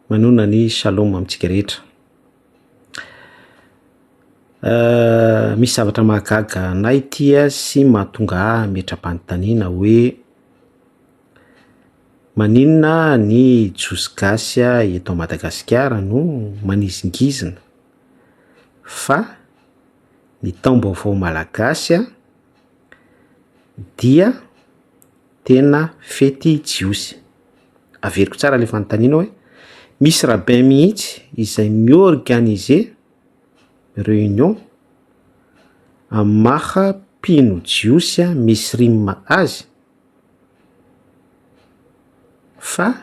Manonona ny shalom amintsika rehetra. Ah, misy zavatra mahagaga anay ity sy mahatonga ahy hametra-panontaniana hoe maninona ny Jiosy gasy eto Madagasikara no manizingizina fa ny taom-baovao malagasy dia. Tena fety jiosy. Averiko tsara ilay fanontaniana hoe misy rabbin mihitsy izay mi-organiser réunion amin'ny maha mpino jiosy a misrim azy? fa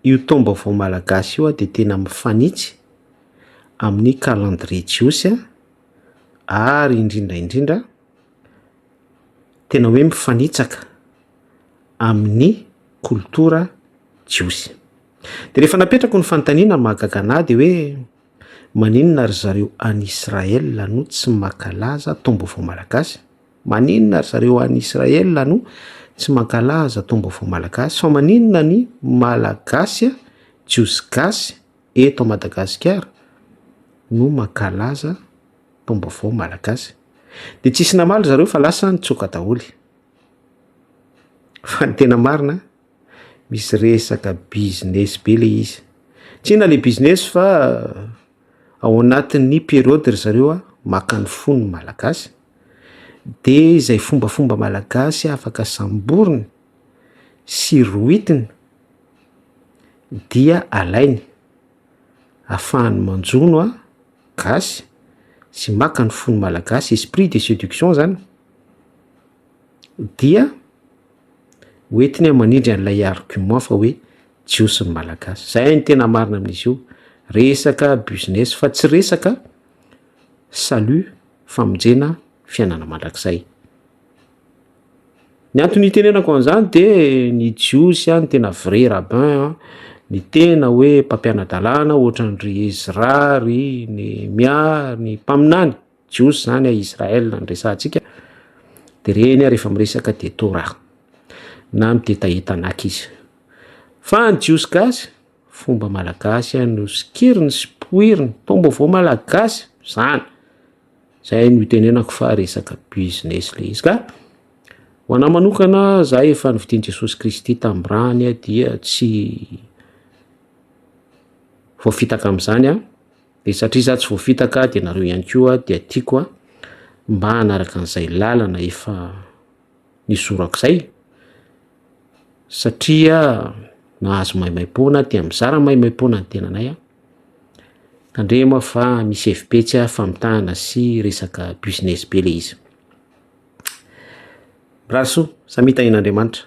io taom-baovao malagasy io dia tena mifanitsy amin'ny calendrier jiosy ary indrindra indrindra tena hoe mifanitsaka amin'ny kolotora jiosy. De rehefa napetrako ny fanontaniana mahagaga anahy de hoe maninona ry zareo any Israël no tsy mankalaza taom-baovao malagasy? Maninona ry zareo any Israël no tsy mankalaza taom-baovao malagasy fa maninona ny Malagasy jiosy gasy eto Madagasikara no mankalaza Taom-baovao Malagasy. Dia tsisy namaly zareo fa lasa nitsoaka daholo. Fa ny tena marina, misy resaka business be le izy. Tsina le business fa euh, ao anatin'ny periode ry zareo a, maka ny fon'ny Malagasy. Dia izay fombafomba Malagasy afaka samboriny sy rohitiny dia alainy. afahany manjono a gasy sy maka ny fony malagasy esprit de seduction zany dia ho entiny an manindry an'ilay argument fa hoe jiosy ny malagasy zay ny tena marina amin'izy io resaka business fa tsy resaka salut famonjena fiainana mandrakizay Ny antony itenenako an'izany dia ny Jiosy an, ny tena vrai rabbin an, ny tena hoe mpampiana-dalàna ohatran'ny ry Ezra, ry Nehemia, ny mpaminany Jiosy izany a Israel no resahantsika dia ireny ary efa miresaka dia Torah na midetahe Tanakh izy fa ny Jiosy gasy fomba malagasy no sokiriny sy poiriny, taom-baovao malagasy izany. Zay no itenenako fa resaka business ilay izy. Ka ho anah manokana, za efa novidin'i Jesosy Kristy tamin'ny rany dia tsy voafitaka amin'izany aho. Dia satria za tsy voafitaka dia nareo ihany koa dia tiako mba hanaraka an'izay lalana efa ny zorak'izay satria nahazo maimaimpoana aho, dia mizara maimaimpoana ny tenanay aho. Tandremo aho fa misy hevi-betsy aho famitahana sy resaka business be ilay izy. Mirary soa, samy hita nen'Andriamanitra.